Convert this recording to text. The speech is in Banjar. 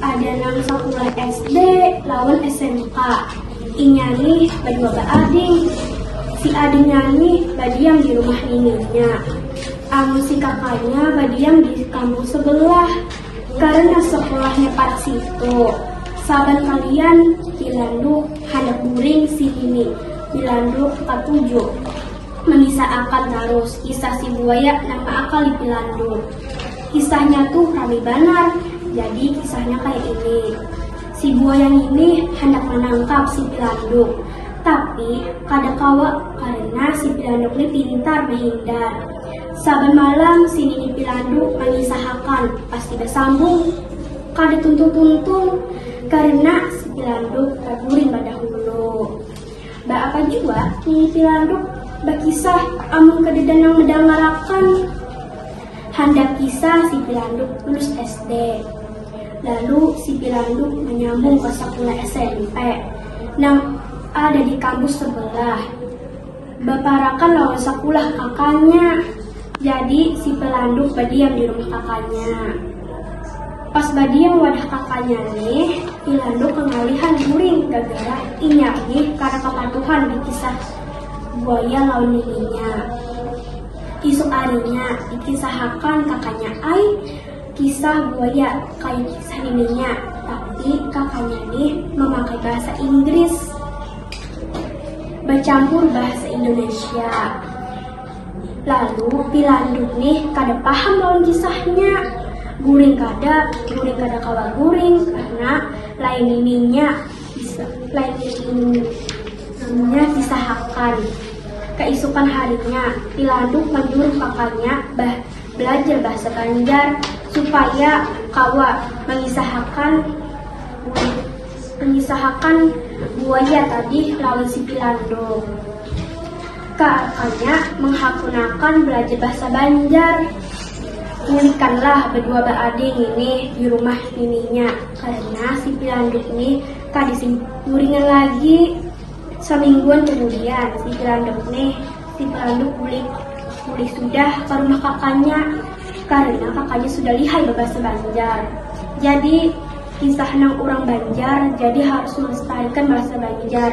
Ada nang sakulah SD lawan SMK. Inya nih badua baading. Si adingnya nih badiam di rumah nininya. Amun si kakanya badiam di kampung sebelah. Karena sekolahnya parak situ. Saban kalian dilanduk handak guring si nini dilanduk katuju. Mangisah akan tarus kisah si buaya nang maakal di pilandur. Kisahnya tuh rami banar, jadi kisahnya kaya ini. Si buaya ngini handak manangkap si pilanduk, tapi kada kawa karena si pilanduk ni pintar mahindar. Saban malam si nini pilanduk mangisahakan pasti basambung kada tuntung-tuntung karena si pilanduk kaguring badahulu. Baapa jua Nini Pilanduk bakisah amun kadada nang madangarakan. Handak kisah si Pilanduk lulus SD. Lalu si Pilanduk manyambung ka sakula SMP nang ada di kampus sebelah. Baparakan lawan sakulah kakanya. Jadi si Pilanduk badiam di rumah kakanya. Pas badiam wadah kakanya nih, Ilando kangalihan guring gagara inya nih kada kapatuhan di kisah buaya lawan nininya. Isuk arinya, dikisahakan kakanya ai kisah buaya kaya kisah nininya, tapi kakanya nih mamakai bahasa Inggris bacampur bahasa Indonesia. Lalu pilanduk nih kada paham lawan kisahnya. Guring kada, guring kada kawa guring karena lain nininya bisa lain nininya disahakan. Kaisukan harinya, pilanduk manyuruh kakanya bah belajar bahasa Banjar supaya kawa mangisahakan mangisahakan buaya tadi lawan si pilanduk. Kaakanya manghakunakan balajar bahasa Banjar. Bulikanlah badua baade ngini di rumah nininya karena si Pilanduk ni kada simpuringan lagi. Samingguan kamudian si Pilanduk ni, si Pilanduk bulik bulik sudah ka rumah kakanya karena kakanya sudah lihai babahasa Banjar. Jadi, kisah nang urang Banjar jadi harus malestarikan bahasa Banjar.